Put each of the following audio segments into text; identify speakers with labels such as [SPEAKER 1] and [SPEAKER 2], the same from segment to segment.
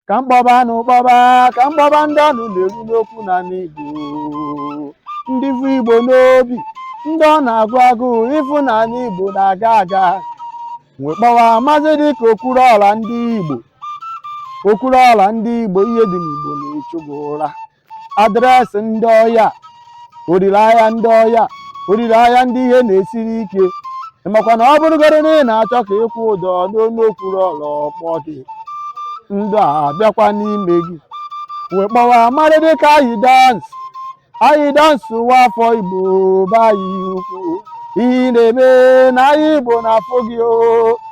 [SPEAKER 1] ka m kpọba na ụkpọba ka m kpọba ndị ọnụ na-eru n'okwu n'anị igbo ndị bu igbo n'obi ndị ọ na-agụ agụụ ịfụ na anị igbo na-aga aga wee kpọwa maazị dịka okwuruọra ndị igbo okwuruọra ndị igbo ihe dị n'igbo na-echu gị ụra adreesị ndị ọya olileanya ndị ọya olileanya ndị ihe na-esiri ike makwa na ọ bụrụgodị na ị na-achọ ka ị kwụọ ụdọ n'onu okwuruọra kpọọ gị ndụ abịakwa n'ime gị wee kpọwa mmadụ dịka ayi dansị ayi dansị nwa afọ igbo be anyị ukwu ihe ị na-eme n'anị igbo na-afụ gị o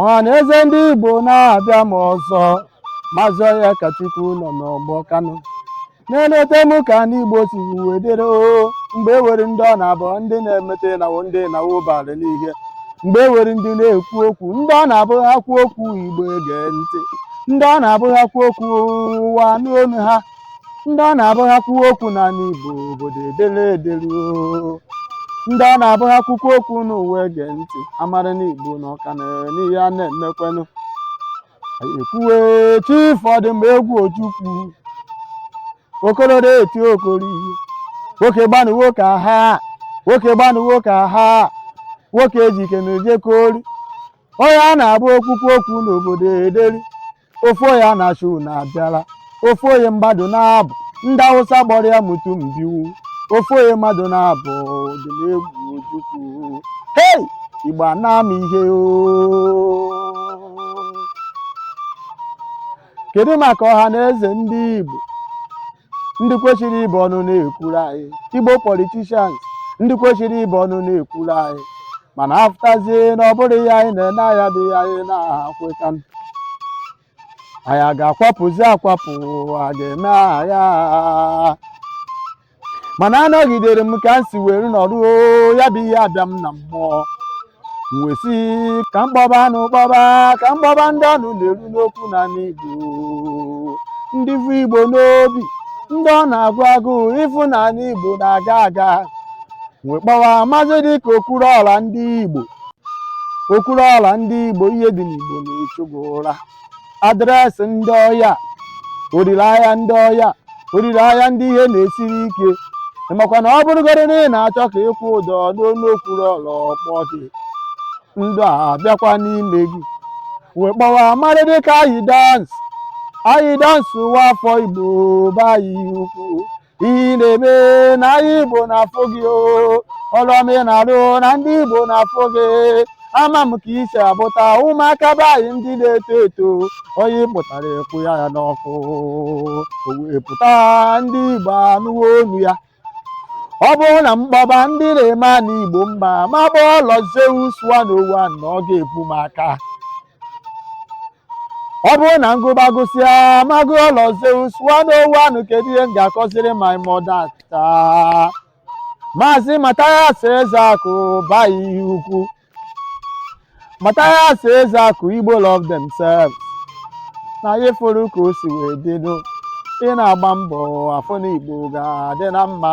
[SPEAKER 1] ọha na eze ndị igbo na-abịa m ọzọ maazị onyekachukwu nọ n'ọgbọ kanụ na-eleta m ka anị igbo si wee dịrị oo mgbe e nwere ndị ọ na-abụ ndị na-emeta ịnawo ndị ịnawo bara n'ihe mgbe e nwere ndị na-ekwu okwu ndị ọ na-abụ ha kwuo okwu igbo ege ntị ndị ọ na-abụ ha kwuo okwu ụwa anụ olu ha ndị ọ na-abụ ha kwuo okwu n'anị Igbo obodo edere edere oo. ndị ọ na-abụ ha kwukwa okwu ụwa ege ntị amara na Igbo na ọka na n'ihe a na-emekwenụ ekwuwe chief odumegwu ojukwu okororo eti okori nwoke gba nwoke aha nwoke gba nwoke aha nwoke ejike na ojekori onye ọ na-abụ o kwukwa okwu obodo ederi ofu onye a na-asị unu abịala ofu onye mmadụ naabọ ndị awụsa kpọrọ ya mutum biyu ofu onye mmadụ naabọ odumegwu ojukwu hei igbo ana-ama ihe oo kedu maka ọha na eze ndị igbo ndị kwesịrị ịbụ ọnụ na-ekwuru anyị igbo politicians ndị kwesịrị ịbụ ọnụ na-ekwuru anyị mana afụtazie na ọ bụrụ ha anyị na-ene anya bụ ha anyị na-akweta anya ga-akwapụzi akwapụ a ga-eme agha mana anọgidere m ka m si were nọrọ ya bụ ihe abịa m na mmụọ m wee sị ka m kpọba na ụkpọba ka m kpọba ndị ọnụ na-eru n'okwu n'anị igbo ndị bu igbo n'obi ndị ọ na-agụ agụụ ịfụ na anị igbo na-aga aga wee kpọwa maazị dịka okwuruọra ndị igbo okwuruọra ndị igbo ihe dị n'igbo na-echu gị ụra adreesị ndị ọya olileanya ndị ọya olileanya ndị ihe na-esiri ike makwa na ọ bụrụgodị na ị na-achọ ka ị kwụọ ụdọ n'olu okwuruọra kpọọ gị ndụ abịakwa n'ime gị wee kpọwa mmadụ dịka ayi dans ayi dans nwa afọ igbo be anyị ukwu ihe ị na-eme na anyị Igbo na-afụ gị o ọrụ ọma ị na-arụ na ndị Igbo na-afụ gị ama m ka i si abụta ụmụaka be anyị ndị na-eto eto onye pụtara ekwu ya ya n'ọkụ o wee pụta ndị Igbo anụwo onu ya ọ bụrụ na m kpọba ndị na-eme ana Igbo mma m akpọhọ Lord Zeus one o one na ọ ga-ebu m aka ọ bụrụ na m gụba gụsịa m agụhọ Lord Zeus one o one nụ kedu ihe m ga-akọziri my mother taa maazị Mathias Ezeaku be anyị ukwu Mathias Ezeaku Igbo love themselves na anyị fụrụ ka o si wee dịnụ ị na-agba mbọ afụ na Igbo ga-adị na mma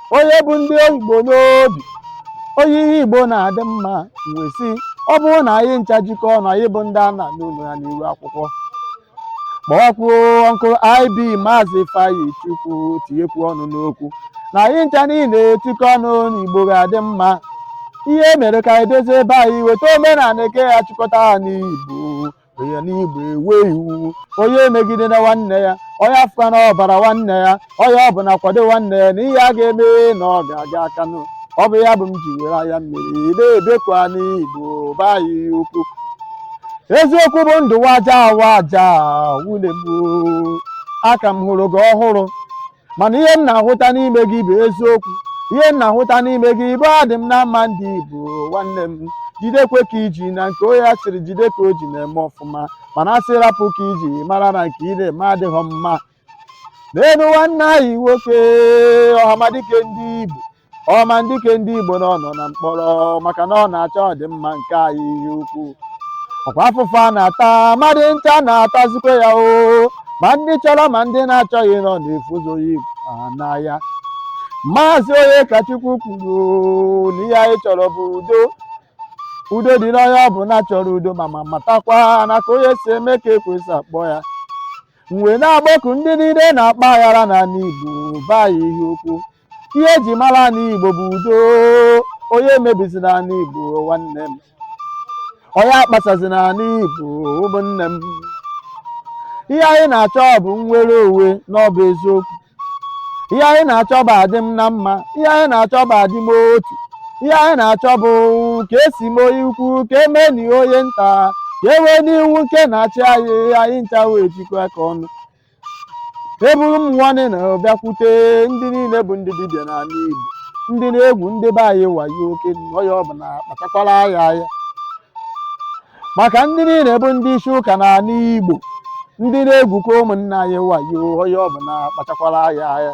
[SPEAKER 1] onye bu ndị Igbo n'obi onye ihe Igbo na-adị mma wee sị ọ bụrụ na anyị ncha jikọ ọnụ anyị bụ ndị a na-anụ olu ya n'iru akwụkwọ kpọwakwuo Uncle IB maazị Ifeanyichukwu tinyekwu ọnụ n'okwu na anyị ncha niile etikọ ọnụ na Igbo ga-adị mma ihe mere ka anyị dozie be anyị weta omenala nke ya-achịkọta anị Igbo onye n'Igbo enwee iwu onye emegidena nwanne ya onye afụkwana ọbara nwanne ya onye ọ bụla kwado nwanne ya na ihe ọ ga-eme na ọ ga-aga aka nụ ọ bụ ya bụ m ji were anya mmiri na-ebeku anị Igbo be anyị ukwu eziokwu bụ ndụ waja waja nwanne m a ka m hụrụ gị ọhụrụ mana ihe m na-ahụta n'ime gị bụ eziokwu ihe m na-ahụta n'ime gị bụ adị m na mma ndị Igbo nwanne m jidekwa ka i ji na nke onye a sịrị jide ka o ji na-eme ọfụma mana a sị rapụ ka i ji mara na nke ị na-eme adịghị mma neenụ nwanne anyị nwoke ọhamadike ndị Igbo ọhamadike ndị Igbo na ọ nọ na mkpọrọ maka na ọ na-achọ ọdịmma nke anyị ihe ukwu ọ kwa afụfụ a na-ata mmadụ ncha na-atazikwa ya o ma ndị chọrọ ma ndị na-achọghị nọ na-efuzoghị n'ahịa maazị Onyekachukwu kwuru na ihe anyị chọrọ bụ udo udo dị n'onye ọ bụla chọrọ udo ma ma matakwa na ka onye si eme ka e kwesị akpọ ya m wee na-akpọku ndị niile na-akpa aghara n'ala Igbo be anyị ukwu ihe e ji mara anị Igbo bụ udo onye emebizina anị Igbo nwanne m onye akpasazina anị Igbo ụmụnne m ihe anyị na-achọ bụ nnwere onwe na ọ bụ eziokwu ihe anyị na-achọ bụ adị m na mma ihe anyị na-achọ bụ adị m otu ihe anyị na-achọ bụ ka e si mee onye ukwu ka e meenụ onye nta ka e nweenụ iwu nke na-achị anyị anyị ncha wee jikọ aka ọnụ eburu m nwanne na-abịakwute ndị niile bụ ndị dibịa n'ala Igbo ndị na-egwu ndị be anyị wayo oke onye ọbụla kpachakwara anya ya maka ndị niile bụ ndị isi ụka n'ala Igbo ndị na-egwukwa ụmụnna anyị wayo onye ọbụla kpachakwara anya ya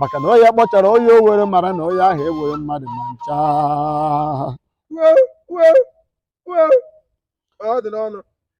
[SPEAKER 1] maka na onye kpọchara onye o were mara na onye ahụ ewere mmadụ ma ncha
[SPEAKER 2] Wee,
[SPEAKER 1] wee,
[SPEAKER 2] wee. Ọ dị n'ọnụ.